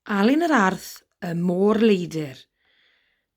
Alun yr Arth, Y Môr Leidr,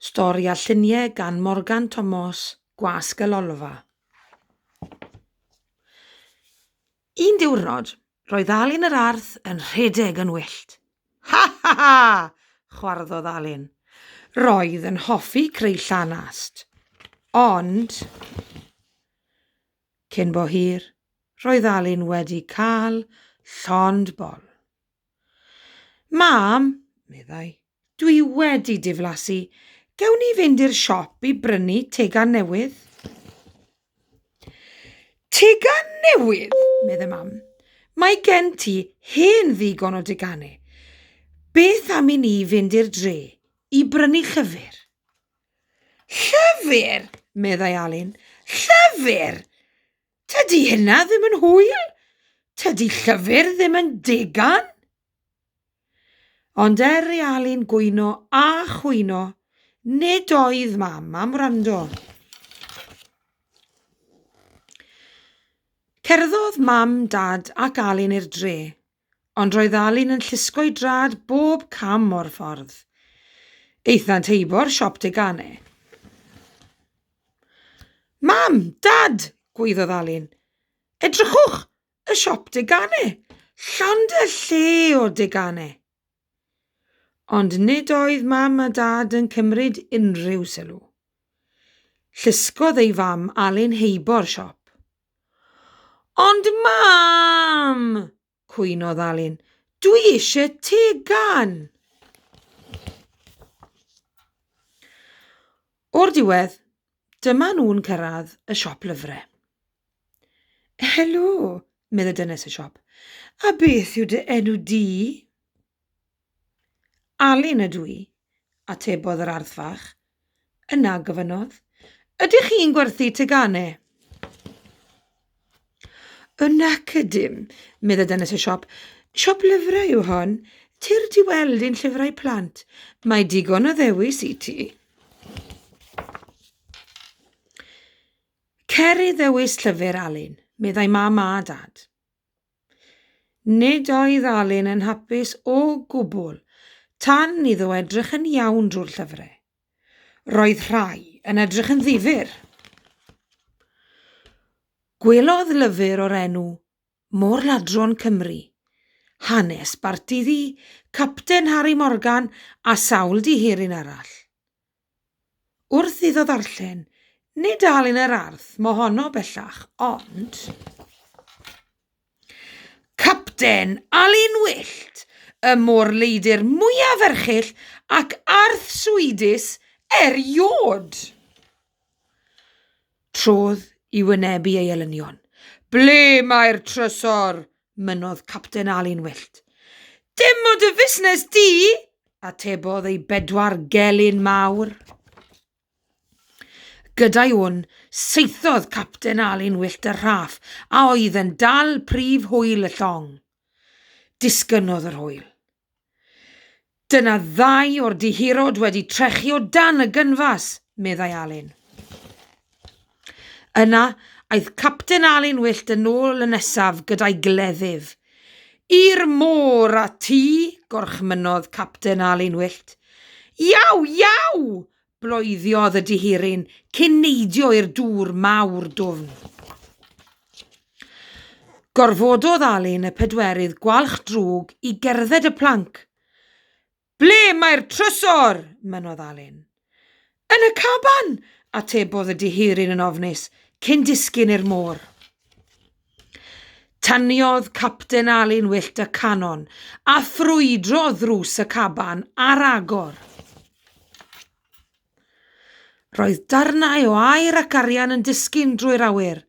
Stori a lluniau gan Morgan Tomos, Gwasg y Lolfa. Un diwrnod, roedd Alun yr Arth yn rhedeg yn wyllt. Ha ha ha! chwarddodd Alun. Roedd yn hoffi creu llanast. Ond... Cyn bo hir, roedd Alun wedi cael llond bol. Mam, meddai, dwi wedi diflasu, gewn ni fynd i'r siop i brynu tegan newydd? Tegan newydd, meddai mam. Mae gen ti hen ddigon o deganau. Beth am i ni fynd i'r dre i brynu llyfr? Llyfr! meddai Alun. Llyfr! Tydi hynna ddim yn hwyl. Tydi llyfr ddim yn degan. Ond er i Alun gwyno a chwyno, nid oedd mam am wrando. Cerddodd mam, dad ac Alun i'r dre. Ond roedd Alun yn llusgo'i drad bob cam o'r ffordd. Eithant heibo'r siop deganau. Mam! Dad! gwaeddodd Alun. Edrychwch! Y siop deganau! Llond y lle o deganau! Ond nid oedd mam a dad yn cymryd unrhyw sylw. Llusgodd ei fam Alun heibo'r siop. Ond mam! cwynodd Alun. Dwi eisiau tegan! O'r diwedd, dyma nhw'n cyrraedd y siop lyfrau. Helo, meddai dynes y siop. A beth yw dy enw di? Alun ydw i, atebodd yr arth fach. Yna gofynnodd, Ydych chi'n gwerthu teganau? O nac ydym, meddai dynes y siop. Siop lyfrau yw hon. Tir di weld ein llyfrau plant. Mae digon o ddewis i ti. Cer i ddewis llyfr, Alun, meddai mam a dad. Nid oedd Alun yn hapus o gwbl tan iddo edrych yn iawn drwy'r llyfrau. Roedd rhai yn edrych yn ddifyr. Gwelodd lyfr o'r enw Môr-ladron Cymru, hanes Barti Ddu, Capten Harri Morgan a sawl dihiryn arall. Wrth iddo ddarllen, nid dal yn yr arth mohono bellach, ond. Capten Alun Wyllt, y môr-leidr mwyaf erchyll ac arthswyddus eriôd! trodd i wynebu ei elynion. Ble mae'r trysor? mynnodd Capten Ali'n wyllt. Dim o dy fusnes di! atebodd ei bedwar gelyn mawr. Gyda'i wn, seithodd Capten Ali'n wyllt y rhaff a oedd yn dal prif hwyl y llong. Disgynnodd yr hwyl. Dyna ddau o'r dihirod wedi trechu o dan y gynfas, meddai Alun. Yna, aeth Capten Alun Wyllt yn ôl y nesaf gyda'i gleddyf. I'r môr a ti, gorchmynnodd Capten Alun Wyllt. Iau, iau! Bloeddodd y dihiryn cyn neidio i'r dŵr mawr dwfn. Gorfododd Alun y pedwerydd gwalch drwg i gerdded y planc. Ble mae'r trysor? mynnodd Alun. Yn y caban, atebodd y dihiryn yn ofnus, cyn disgyn i'r môr. Taniodd Capten Alun Wyllt y canon, a ffrwydro ddrws y caban ar agor. Roedd darnau o aer ac arian yn disgyn drwy'r awyr.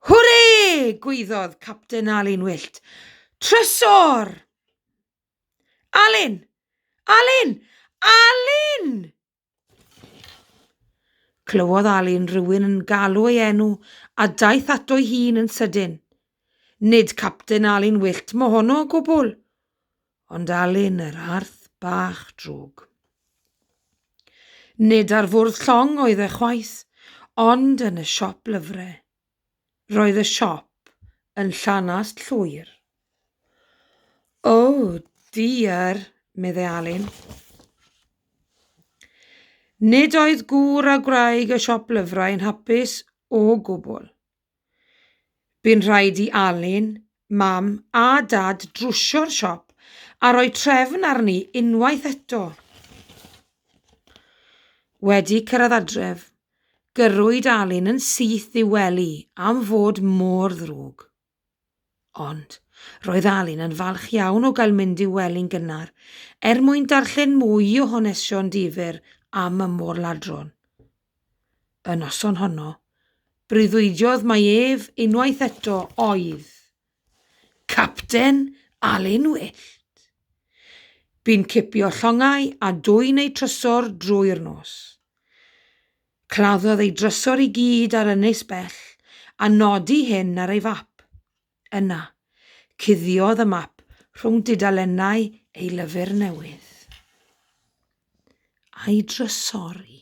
Hwre! gweiddodd Capten Alun Wyllt. Trysor! Alun! Alun! Alun! Clywodd Alun rywun yn galw ei enw a daeth ato'i hun yn sydyn. Nid Capten Alun Wyllt mohono o gwbl, ond Alun yr Arth bach drwg. Nid ar fwrdd llong oedd e chwaith, ond yn y siop lyfrau. Roedd y siop yn llanast llwyr. O, diar, meddai Alun. Nid oedd gŵr a gwraig y siop lyfrau yn hapus o gwbl. Bu'n rhaid i Alun, Mam a Dad drwsio'r siop a rhoi trefn arni unwaith eto. Wedi cyrraedd adref, Gyrrwyd Alun yn syth i'w wely am fod mor ddrwg. Ond, roedd Alun yn falch iawn o gael mynd i'w wely'n gynnar, er mwyn darllen mwy o hanesion difyr am y môr-ladron. Y noson honno, breuddwydiodd mai ef unwaith eto oedd Capten Alun Wyllt. Bu'n cipio llongau a dwyn eu trysor drwy'r nos. Claddodd ei drysor i gyd ar ynys bell a nodi hyn ar ei fap. Yna, cuddiodd y map rhwng dudalennau ei lyfr newydd. A'i drysori.